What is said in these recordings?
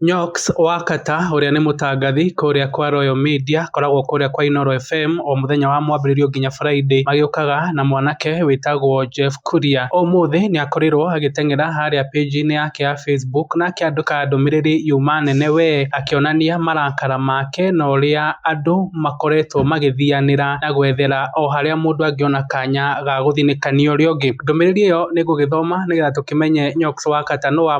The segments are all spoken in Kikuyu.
Nyox wa Kata ũrĩa nĩ mũtangathi kũrĩa kwa Royal Media akoragwo kũrĩa kwa Inooro FM o mũthenya wa mwambĩrĩrio nginya Friday magĩũkaga na mwanake wĩtagwo Jeff Kuria. Ũmũthĩ nĩ akorirwo agĩteng'era harĩa page inĩ yake ya Facebook na akĩandĩka ndũmĩrĩri yuma nene we akĩonania marakara make na ũrĩa andũ makoretwo magĩthianĩra na gwethera o harĩa mũndũ angĩona kanya ga gũthinĩkania ũrĩa ũngĩ. Ndũmĩrĩri ĩyo nĩ ngũgĩthoma nĩgetha tũkĩmenye Nyox wa Kata nũ wa.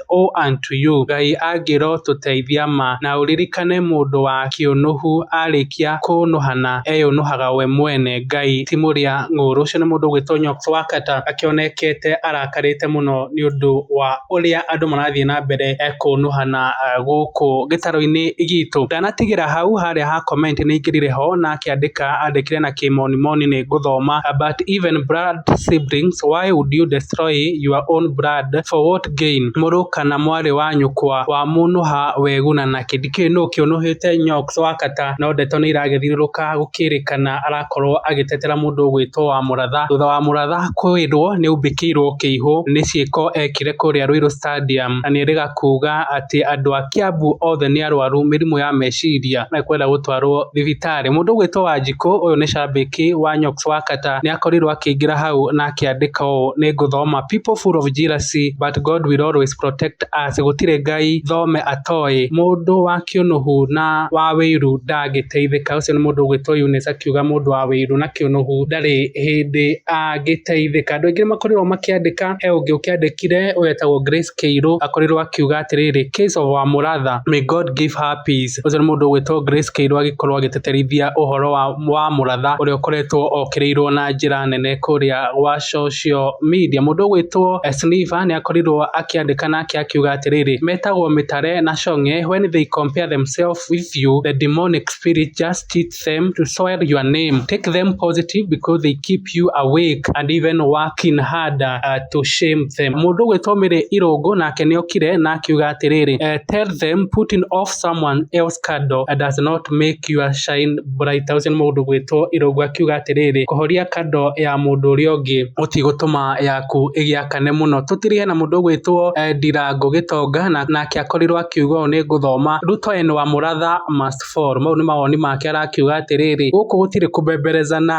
O unto you, Ngai angĩro tũteithia ma, na ũririkane mũndũ wa kĩũnũhu arĩkia kũnũhana eyũnũhaga we mwene, Ngai ti mũrĩa ng'ũũrũ. Ũcio nĩ mũndũ ũgwĩtwo Nyok Thwakata akĩonekete arakarĩte mũno nĩ ũndũ wa ũrĩa andũ marathiĩ na mbere kũnũhana gũkũ gĩtarũ-inĩ gitũ. Ndanatigĩra hau harĩa ha comment nĩ aingĩrire ho na akĩandĩka andĩkire na kĩmoni moni nĩ ngũthoma but even blood siblings why would you destroy your own blood for what Gain. Mũrũ kana mwarĩ wa nyũkwa wa mũnũha weguna na kĩndi kĩu nũ kĩũnũhĩte Nyox wa kata no ndeto nĩiragĩthiũrũrũka gũkĩrĩkana arakorwo agĩtetera mũndũ ũgwĩtwo wa mũratha thutha wa mũratha kwĩrwo nĩaumbĩkĩirwo kĩihũ nĩ ciĩko ekire kũrĩa Ruiru Stadium na nĩerĩga kuga atĩ andũ a Kiambu othe nĩ arwaru mĩrimũ ya meciria na kwenda gũtwarwo thibitarĩ. Mũndũ ũgwĩtwo Wanjikũ ũyũ nĩ cambĩki wa Nyox wa kata. Kenyatta nĩ akorirũo akĩingĩra hau na akĩandĩka ũũ, nĩ ngũthoma, People full of jealousy, but God will always protect us, gũtirĩ Ngai thome atoĩ, mũndũ wa kĩũnũhu na wa wĩiru ndangĩteithĩka. Ũcio nĩ mũndũ ũgwĩtwo Eunice akiuga mũndũ wa wĩiru na kĩũnũhu ndarĩ hĩndĩ angĩteithĩka. Andũ aingĩ nĩ makorirũo makĩandĩka, he ũngĩ ũkĩandĩkire ũyetagwo Grace Keirũ akorirwo akiuga atĩrĩrĩ, case of our mũratha, may God give her peace. Ũcio nĩ mũndũ ũgwĩtwo Grace Keirũ agĩkorwo agĩtĩtĩrithia ũhoro wa, wa mũratha ũrĩa ũkoretwo okĩrĩirwo na njĩra nene kũrĩa gwa social media. Mũndũ ũgwĩtwo Sniva nĩ akorirwo akĩandĩka nake akiuga atĩrĩrĩ, metagwo Mĩtare na Cong'e when they compare themselves with you the demonic spirit just cheats them to swear your name. Take them positive because they keep you awake and even working harder uh, to shame them. Mũndũ gwĩtomire irũngũ nake nĩokire na akiuga atĩrĩrĩ, uh, tell them putting off someone else candle uh, does not make your shine brighter. Ũcio nĩ mũndũ gwĩtwo irũngũ akiuga atĩrĩrĩ, kũhoria kando ya mũndũ ũrĩa ũngĩ gũtigũtũma yaku ĩgĩakane mũno. Tũtirĩhe na mũndũ gwĩtwo uh, Ndirango Gĩtonga na nake akorirwo akiuga ũũ nĩ ngũthoma Ruto and Wamuratha must Paul, mau nĩ mawoni make arakiuga atĩrĩrĩ, gũkũ gũtirĩ kũbemberezana,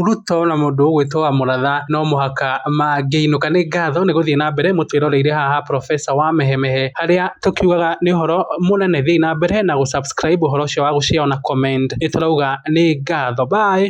Ruto na mũndũ ũgwĩtwo Wamuratha no mũhaka mangĩinũka. Nĩ ngatho nĩ gũthiĩ na mbere mũtwĩroreire haha Profesa Wamehemehe, harĩa tũkiugaga nĩ ũhoro mũnene. Thiĩi na mbere na gũ subscribe ũhoro ũcio wa gũ share ona comment. Nĩ tũrauga nĩ ngatho. Bye.